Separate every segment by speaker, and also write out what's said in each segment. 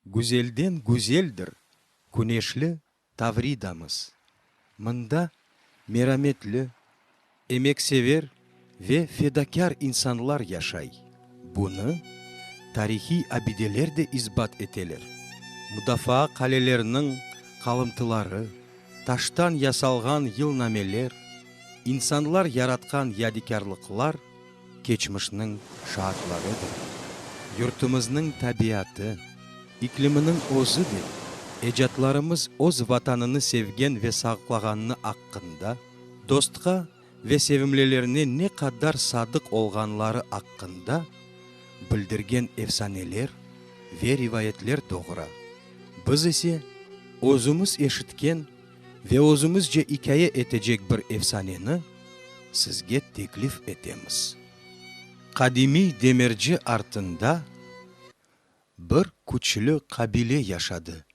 Speaker 1: Güzelden güzeldir küneşli Tavridamız. Mında merametli, emeksever ve fedakâr insanlar yaşay. Bunı tarihiy abideler de isbat eteler. Mudafaa qaleleriniñ qalımtıları, taştan yasalğan yılnameler, insanlar yaratqan yadikârlıqlar keçmişniñ şaatlarıdır. Yurtımıznıñ tabiatı, ikliminiñ özü de ecatlarımız öz Vatanını sevgen ve saqlağanını aqqında, dostqa ve sevimlilerine ne qadar sadıq olğanları aqqında bildirgen efsaneler ve rivayetler doğura, biz ise özümiz eşitken, ve özümizce ikâye etecek bir efsaneni sizge teklif etemiz. Qadimiy demirci artında bir küçlü qabile yaşadı.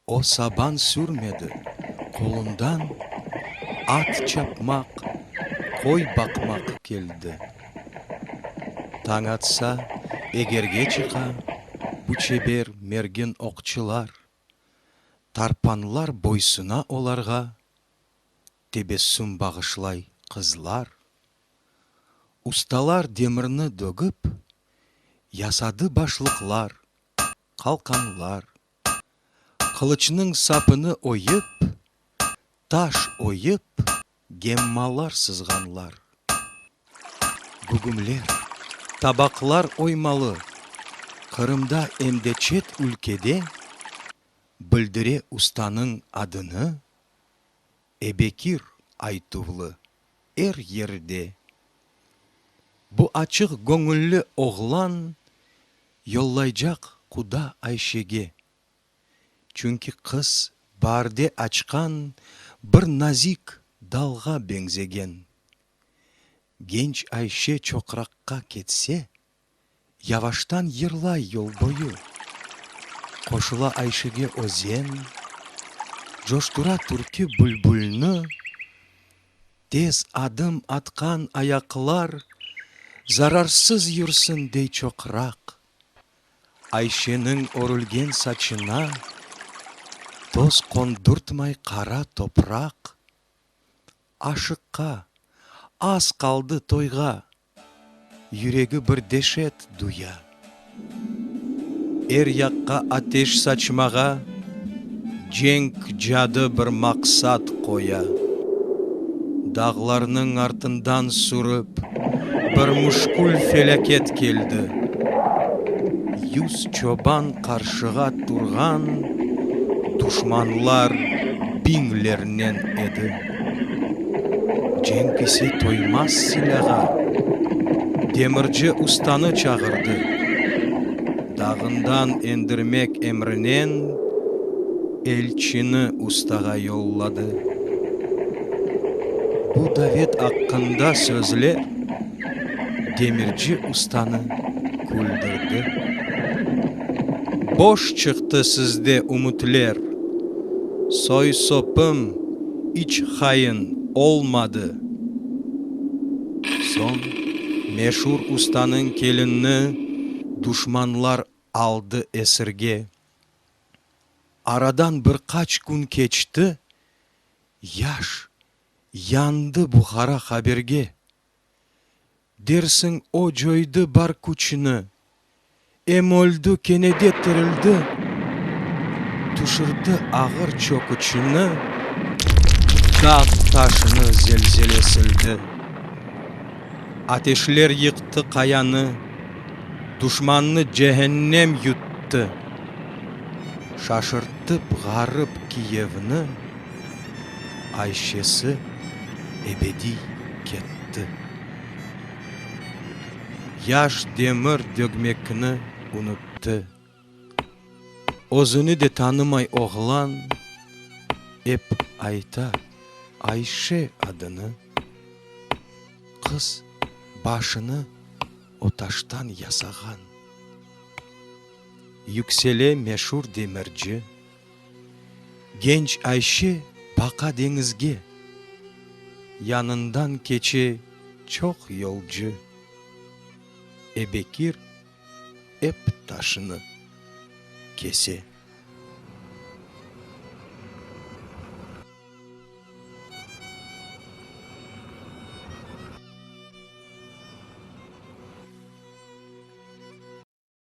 Speaker 1: O saban sürmedi, qolundan at çapmaq, qoy baqmaq keldi. Tañ atsa, egerge çıqa bu çeber mergin oqçılar. Tarpanlar boysuna olarğa, Tebessüm bağışlay qızlar. Ustalar demirni dögip, Yasadı başlıqlar, qalqanlar. Qılıçnıñ sapını oyıp, Taş oyıp, Gemmalar sızğanlar. Gügümler, tabaqlar oymalı. Qırımda em de çet ülkede Bildire ustanıñ adını Ebekir aytuvlı er yerde. Bu açıq göñülli oğlan Yollaycaq quda Ayşege. Çünki qız baarde açqan bir nazik dalğa beñzegen. Genç Ayşe çoqraqqa ketse, yavaştan yırlay yol boyu. Qoşula Ayşege özen, coştura türkü bülbülni, tez adım atqan ayaqlar zararsız yürsin dey çoqraq. Ayşeniñ örülgen saçına toz qondurtmay qara topraq, Aşıqqa, az qaldı toyğa, yüregi bir deşet duya. Er yaqqa ateş saçmağa. Cenk cadı bir maqsat qoya, dağlarnıñ artından sürip, bir müşkül felâket keldi. Yüz çoban qarşığa turğan duşmanlar biñlernen edi. Cenk ise toymaz silâğa. Demirci ustanı çağırdı. Dağından endirmek emrinen elçini ustağa yolladı. Bu davet aqqında sözler. demirci ustanı küldürdi. Boş çıqtı sizde ümütler, soy-sopum iç hain olmadı. Soñ meşur ustanıñ kelinini duşmanlar aldı esirge. Aradan bir qaç kün keçti, yaş yandı Buhara haberge. Dersiñ, o coydı bar küçüni, Em öldi, kene de tirildi. Tüşürdi ağır çöküçüni, Dağ taşını zelzele sildi. Ateşler yıqtı qayanı, Duşmannı cehennem yuttı. Şaşırtıp ğarip Kiyevni. Ayşesi ebediy ketti. Yaş demir dögmekni unuttı. Özüni de tanımay oğlan ep ayta Ayşe adını. Qız başını o taştan yasağan. Yüksele meşur demirci. Genç Ayşe baqa deñizge. Yanından keçe çoq yolcu. E Bekir ep taşını kese.